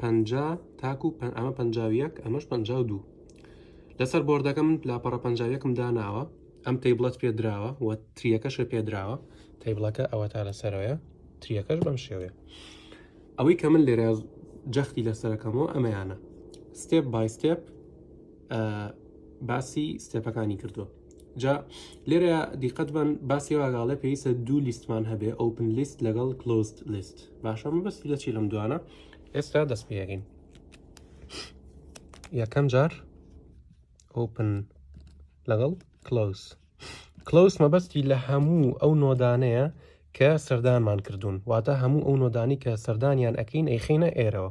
پەنجا تاکو ئەمە پەنجا و یەک ئەمەش پەنجا و دوو لەسەر بۆردەکە من لاپەڕە پەنجاویەکم داناوە ئەم تەیبڵەت پێ دراوە و تریەکەشە پێ دراوە تەیبڵەکە ئەوە تا لەسەرەوەە تریەکەش بەم شێوەیە ئەوەی کە من لێرە جەختی لەسەرەکەمەوە ئەمەیانە ستێپ بای ستێپ باسی ستێپەکانی کردووە جا لێرە دیقەت بن باسی واگاڵێ پێویستە دوو لیستمان هەبێ ئۆپن لیست لەگەڵ کلۆست لیست باشە مەبەستی لە چی لەم دوانە ئێستا دەست پێگەین یەکەم جار ئۆپن لەگەڵ کلۆس کلۆس مەبەستی لە هەموو ئەو نۆدانەیە کە سەردانمان کردوون واتە هەموو ئەو نۆدانی کە سەردانیان ئەەکەین ئەیخینە ئێرەوە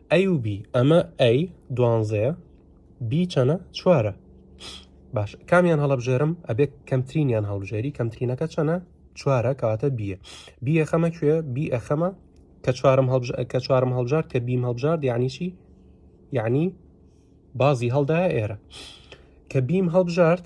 ئەی و بی ئەمە ئەی دوانزەیە بی چەنە چوارە باش کامیان هەڵبژێرم ئەبێت کەمترینیان هەڵبژێری کەمترینەکە چەنە چوارە کەواتە بیە بیە خەمە کوێ بی ئەخەمە کە چوارم کە چوارم هەڵبژار کە بیم هەڵبژار یعنی چی یعنی بازی هەڵدایە ئێرە کە بیم هەڵبژارد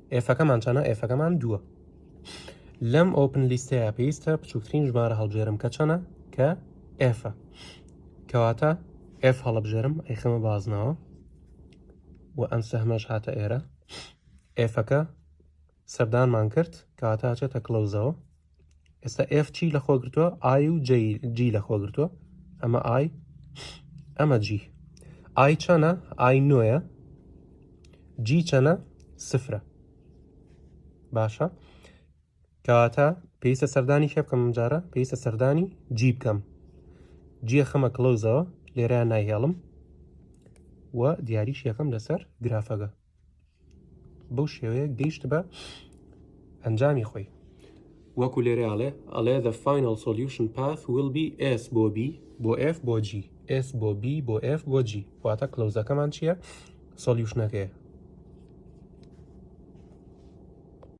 ئێفەکەمان چەنە ئێفەکەمان دووە لەم ئۆپن لیستەیە پێویستە بچووکترین ژمارە هەڵبژێرم کە چەنە کە ئێفە کەواتە ئێف هەڵبژێرم ئەیخەمە بازنەوە و ئەم سەهمەش هاتە ئێرە ئێفەکە سەردانمان کرد کەواتە چێتە کلەوزەوە ئێستا ئف چی لە خۆگرتووە ئای و جی لە خۆگرتووە ئەمە ئای ئەمە جی ئای چەنە ئای نوۆیە جی چەنە سفرە باشە کەواتە پێویستە سەردانی کێ بکەم جارە پێویستە سەردانی جی بکەم جیە خەمە کلۆزەوە لێرە نایهێڵم و دیاریش یەکەم لەسەر گرافەکە بەو شێوەیە گەیشت بە ئەنجامی خۆی وەکو لێرە ئەڵێ ئەڵێ the final solution path will be s بۆ b بۆ f بۆ g s بۆ b بۆ f بۆ g واتە کلۆزەکەمان چییە سۆلیوشنەکەیە